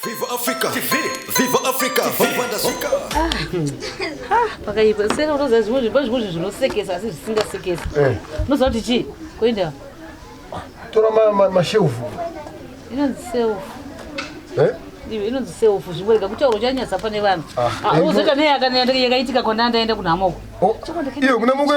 Viva Africa TV Viva Africa Vavanda zvika Ah, pakaipa sena unoziva zvimwe zvipo zvimwe zvinhu zvinosekesa asi zvisingasekesi Eh. unoziva kuti chii kuenda tora ma- ma- mashelfu inonzi self Eh? iwe inonzi self zvimwe rega kutaura uchanyatsa pane vanhu Ah, Ah, eh, unozoita neye akana- yakaitika kona ndaenda kunhamoko iwe kuna mukwe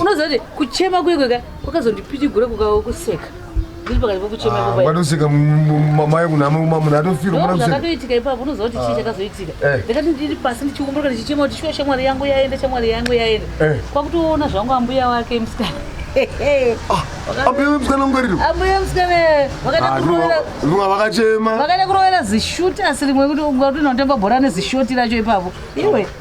unoziva kuti kuchema kuye kweka kwakazondipitigura kukakuseka vanosikamai munhu atofirwaakatoitika ipapo unoziva kuti chii chakazoitika ndakati ndiri pasi ndichiumburuka ndichichema kuti shuwa shamwari yangu yaenda shamwari yangu yaenda kwakutoona zvangu ambuya wake musikana vakachema vakaita kurovera zishoti asi rimwe kuti ungatinotamba bhora nezishoti racho ipapo iwe ah.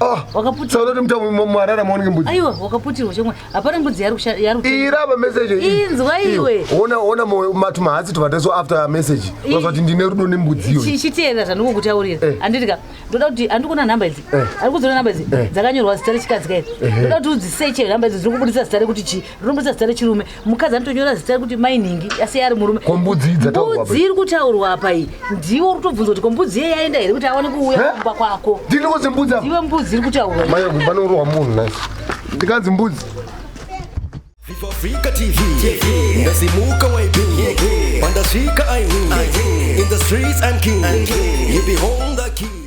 Ah, wakaputirwa sauti mtamu mwarara maonge mbudzi aiwa wakaputirwa chomwe hapana mbudzi yari kusha- yari kutenga. iraba message iyi. Inzwa Iyo. iwe. ona ona mo- matu mahatsi tuvataso after message Ii. wazati ndine rudo nembudziyo Chi- chiteerera zvandikukutaurira Eh. handidika ndoda kuti handikuona nhamba idzi Eh. ari kudziona nhamba idzi Eh. dzakanyorwa zita rechikadzi kairi ndoda kuti udziseche nhamba idzi dziri kubudisa zita rekuti chii rumbidza zita rechirume mukadzi anotonyora zita rekuti mai nhingi asi iye ari murume kombudzi mbudzi iri kutaurwa apa iyi ndiwo uri kutobvunza kuti kombudzi iye yaenda here kuti aone kuuya eh? kumba kwako ndinozi mbudzi iwe mbudzi iri kutaurwa mai vanorohwa munhu nai ndikanzi mbudzi Viva Africa TV, ndasimuka YB, pandasvika I win, in the streets I'm king, you behold the king.